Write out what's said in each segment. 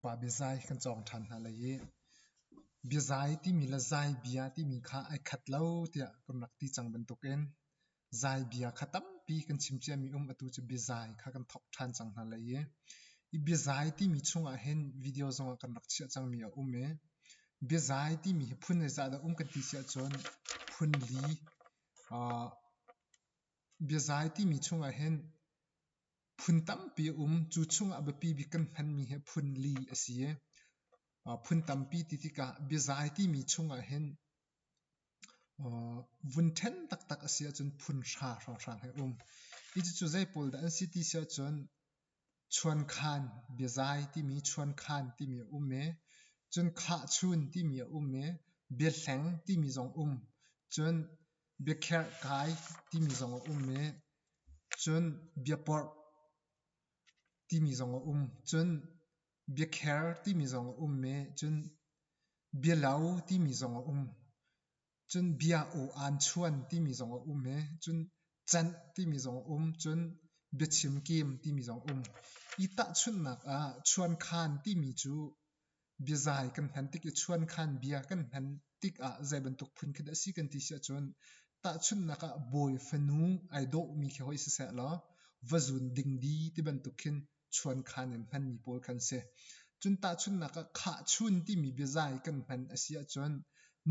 Pa biazai kan cawng ṭhan hna lai i biazai timi le zaibia timi kha ai khat lo tiah kan rak ti cang bantukin zaibia kha tampi kan chim ciami um atu cu biazai kha kan thawk ṭhan cang hna lai i i biazai timi chungah hin video zongah kan rak chiah cangmi a um i biazai timi hi phun zeizah dah um kan ti si ahcun phun li uh, biazai timi chungah hin Phun tampi a um. Cu chungah biapi bik kan hmanmi hi phun li a si i, phun tampi ti tikah biazai timi chungah hin vun ṭhen taktak a si ahcun phun hra hrawnghrang hi a um. Cucu zei pawl dah an si ti si ahcun chuankhan, biazai timi chuankhan timi a um i, cun khahchun timi a um i, biahleng timi zong um. Cun Biakherh kai timi zong a um i cun biaporh timi zong a um. Cun biakher timi zong a um i cun bialo timi zong a um. Cun bia u aanchuan timi zong a um i cun canh timi zong a um. Cun biachim kim timi zong a um. Hi tahchunhnak ah chuankhan timi cu Biazai kan hman tik i chuankhan bia kan hman tik ah zei bantuk phun khi dah a si kan ti si ahcun tahchunhnak ah bawi fanu ai dawhmi khi hoi siseh law va zun ding di ti bantuk khin chuankhan in hmanmi pawl kha an si. Cun tahchunhnak ah khahchun timi biazai kan hman a si ahcun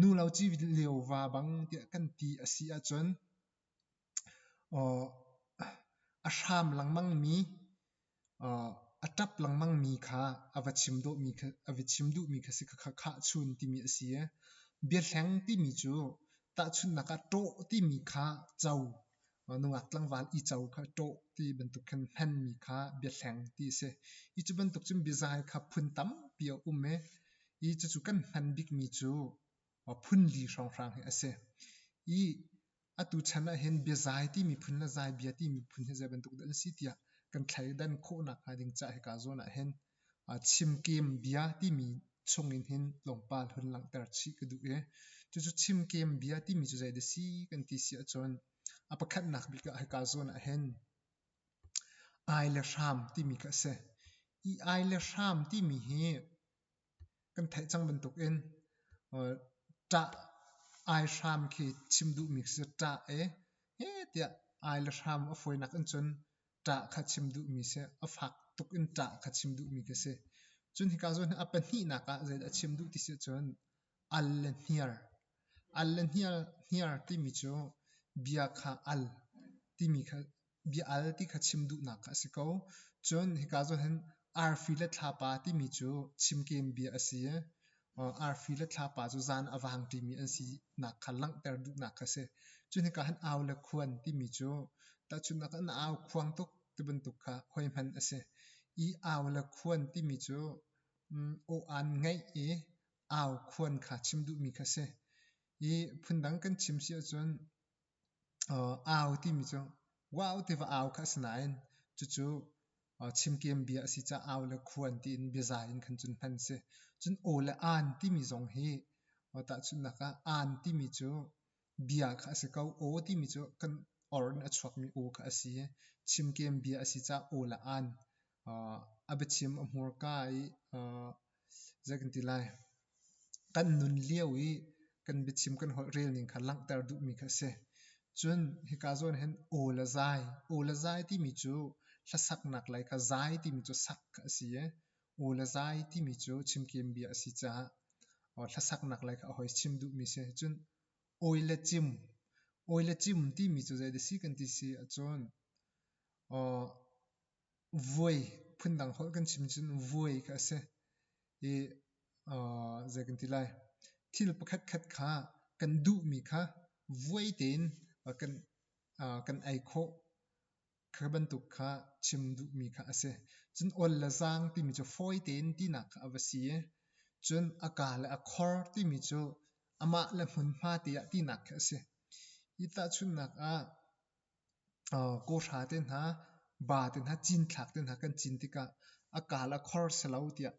nu lo ci lio va bang tiah kan ti a si ahcun A hram lengmangmi, a ṭap lengmangmi kha a va chim duhmi kha a va chim duhmi kha si kha khahchun timi a si i biahleng timi cu tahchunhnak ah ṭawh timi kha co, nungak tlangval i co kha ṭawh ti bantuk khin hmanmi kha biahleng ti a si. Hi cu bantuk cun biazai kha phun tampi a um i hi cucu kan hman bikmi cu phunli hrawnghrang hi a si. Hi Atu chan ah hin biazai ti miphun le zai bia ti miphun hi zei bantuk dah an si tiah kan thleidan khawhnak hnga ding ca hika zawn ah hin chimkem bia timi chungin hin tlawmpal hun langhter chih ka duh i cucu chimkem bia timi cu zei dah si kan ti si ahcun a pakhatnak bik ah hika zawn ah hin ai le hram timi kha a si. I ai le hram timi hi kan theih cang bantuk in ṭah ai hram khi chim duhmi khi ṭah i he tiah ai le hram a fawinak in cun ṭah kha chim duhmi si a fak tuk in ṭah kha chim duhmi khi si cun hika zawn hi a pahnihnak ah zeidah a chim duh ti si cun al le hniar al le hniar hniar timi cu bia kha al timi kha bia al ti kha chim duhnak kha a si ko. Cun hika zoh hin arfi le thlapa timi cu chimkem bia a si i arfi le thlapa cu zan a vang ṭimi an sinak kha langhter duhnak kha a si. Cun hika hin au le khuan timi cu tahchunhnak in na au khuang tuk ti bantuk kha hoi hman a si. I au le khuan timi cu aw-an ngeih i au khuan kha chim duhmi kha a si. I phundang kan chim si ahcun Au timi cu wau tiva au kha a si nain cucu chimkeem bia a si caah au le khuan tiin biaza in khan cun hman a si. Cun aw le aan timi zong hi tahchunhnak ah aan timi cu bia kha a si ko. Aw timi cu kan or in a chuakmi aw kha a si i chimkeem bia a si caah aw le aan a biachim a hmurka i zei kan ti lai kan nun lio i kan biachim kan holh rel ning kha langhter duhmi kha a si cun hika zawn hin aw le zai aw le zai timi cu hlasaknak lei kha zai timi cu sak a si i aw le zai timi cu chimkim bia a si caah hlasaknak lei kha a hoi chim duhmi si cun awi le cim awi le cim timi cu zei da si kan ti si ahcun vuai phundang holh kan chim cun vuai kha a si i zei kan ti lai thil pakhatkhat kha kan duhmi kha vuai tein kan kan ei khawh kha bantuk kha chim duhmi kha a si cun ol le zaang timi cu fawi tein tinak kha a va si i cun a ka le a khor timi cu amah le hmunhma te ah tinak kha a si hi tahchunhnak ah Kawhra te hna, ba te hna, cinthlak te hna kan cin tikah a kaal a khor silo tiah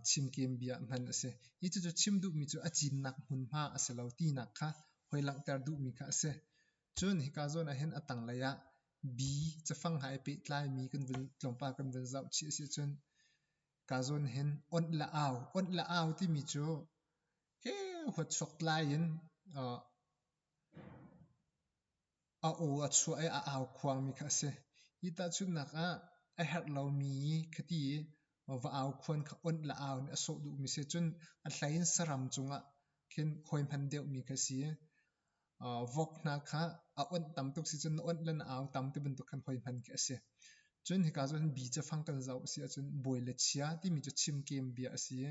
chimkem bia hman a si. Hi cucu chim duhmi cu a cinnak hmunhma a si lo tinak kha hoi langhter duhmi kha a si. Cun hika zawn ahhin a tanglei ah bi cafang ha i pehtlaimi tlawmpal kan vun zoh chih a si ahcun hika zawn hin onh le au, onh le au timi cu heu huatsuak tlai in A aw a chuah i a au khuangmi kha a si. Hi tahchunhnak ah a herh lomi ka ti i va au khuan kha onh le au nih a sawh duhmi a si cun a hlei in saram cungah khin hawi hman deuhmi kha a si. Vok hna kha a onh tam tuk si cun na onh le na au tam ti bantuk khan hawi hman khi a si. Cun hika cun bi cu fang kan zoh a si ahcun bawi le chia timi cu chimkem bia a si i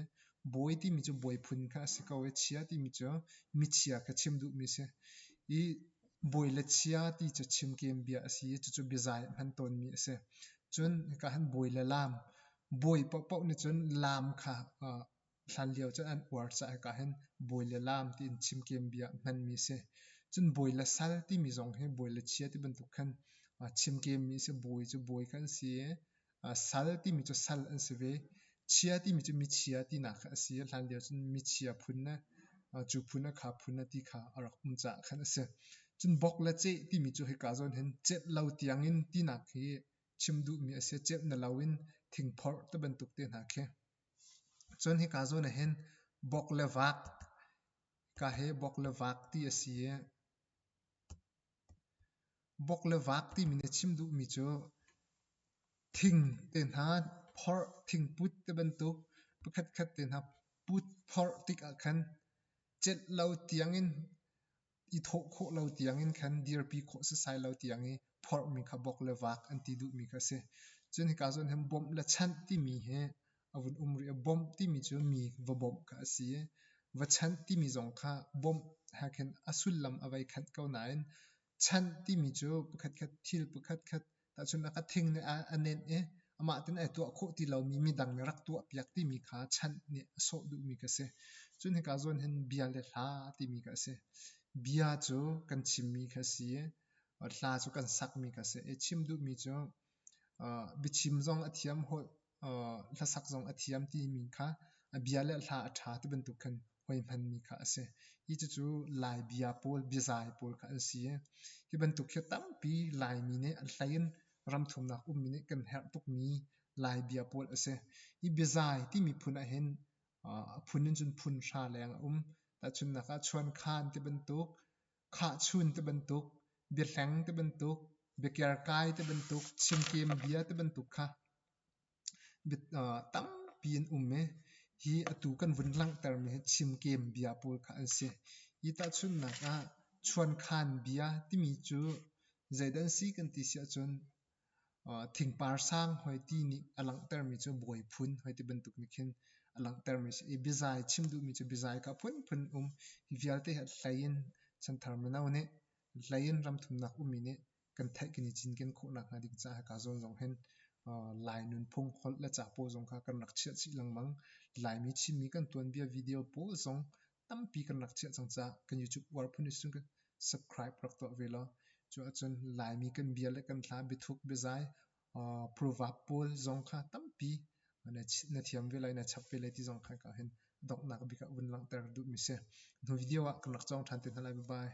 bawi timi cu bawi phun kha a si ko i chia timi cu michia kha chim duhmi a si. I bawi le chia ti cu chimkem bia a si i cucu biazai hman tawnmi a si. Cun hika han bawi le laam, bawi paohpaoh nih cun laam kha Hlanlio cun an uar caah ah hin bawi le laam tiin chimkem bia hmanmi a si. Cun bawi le sal timi zong hi bawi le chia ti bantuk khan chimkemmi a si. Bawi cu bawi kha an si i sal timi cu sal an si ve. Chia timi cu michia tinak kha a si i hlanlio cun michia phun le cu phun le kha phun le ti kha a rak um caah khan a si. Cun bok le ceh timi cu hika zawn hin cenh lo tiangin tinak hi chim duhmi a si. Cenh na lo in thingphorh ti bantuk te hna khi. Cun hika zawn ah hin bok le vaak, hika hi bok le vaak ti a si i, bok le vaak timi nih a chim duhmi cu thing te hna phorh, thingput te bantuk pakhatkhat te hna put phorh tik ah khan cenh lo tiang in i thawh khawh lo tiangin khan dirpi khawh setsai lo tiang i phorhmi kha bok le vak an ti duhmi kha a si. Cun hika zohin hin bawmh le chanh timi hi a vun um rih. Bawmh timi cu mi va bawmh kha a si i va chanh timi zong kha bawmh he khin a sullam a vei khat ko nain chanh timi cu pakhatkhat thil pakhatkhat Tahchun a ka thing nih a nenh i amah tein ai tuah khawh ti lomi midang nih rak tuahpiak timi kha chanh nih a sawh duhmi ka si. Cun hika zawn hin bia le hla timi ka si. Bia cu kan chimmi kha a si i hla cu kan sakmi ka si. I chim duhmi cu biachim zong a thiam, Hlasak zong a thiam timi kha a bia le hla a ṭha ti bantuk khan hoihmanmi kha a si. Hi cucu Lai bia pawl, biazai pawl kha an si i hi bantuk hi tampi Laimi nih an hlei in ramthumnak ummi nih kan herh tukmi Lai bia pawl a si. Hi biazai timi phun ahhin a phun in cun phun hra leng a um. Tahchunhnak ah chuankhan ti bantuk khahchun ti bantuk, biahleng ti bantuk, biakerkai ti bantuk, chimkem bia ti bantuk kha tampi an um i hi atu kan vun langhtermi hi chimkem bia pawl kha an si. Hi tahchunhnak ah chuankhan bia timi cu zeidan si kan ti si ahcun Thingpar sang hoi ti nih a langhtermi cu bawi phun hoi ti bantuk nih khin a langhtermi a si. I bizai chim duhmi cu bizai kha phunphun um hi vialte hi hlei in chanthar mino nih hlei in ramthumnak ummi nih kan theih kan i cinken khawhnak hnga ding caah hika zawn zong hin Lai nunphung holh le capo zong kha kan rak chiah chih lengmang. Laimi Chinmi kan tuanbia video pawl zong tampi kan rak chiah cang caah kan YouTube uar phun in cun subscribe rak tuah ve law cu ahcun Laimi kan bia le kan hla biathuk biazai purvap pawl zong kha tampi na thiam ve lai na chap ve lai ti zong kha ka hin donghnak bik ah vun langhter duhmi si hnu video ah kan rak cawng ṭhan te hna lai bye bye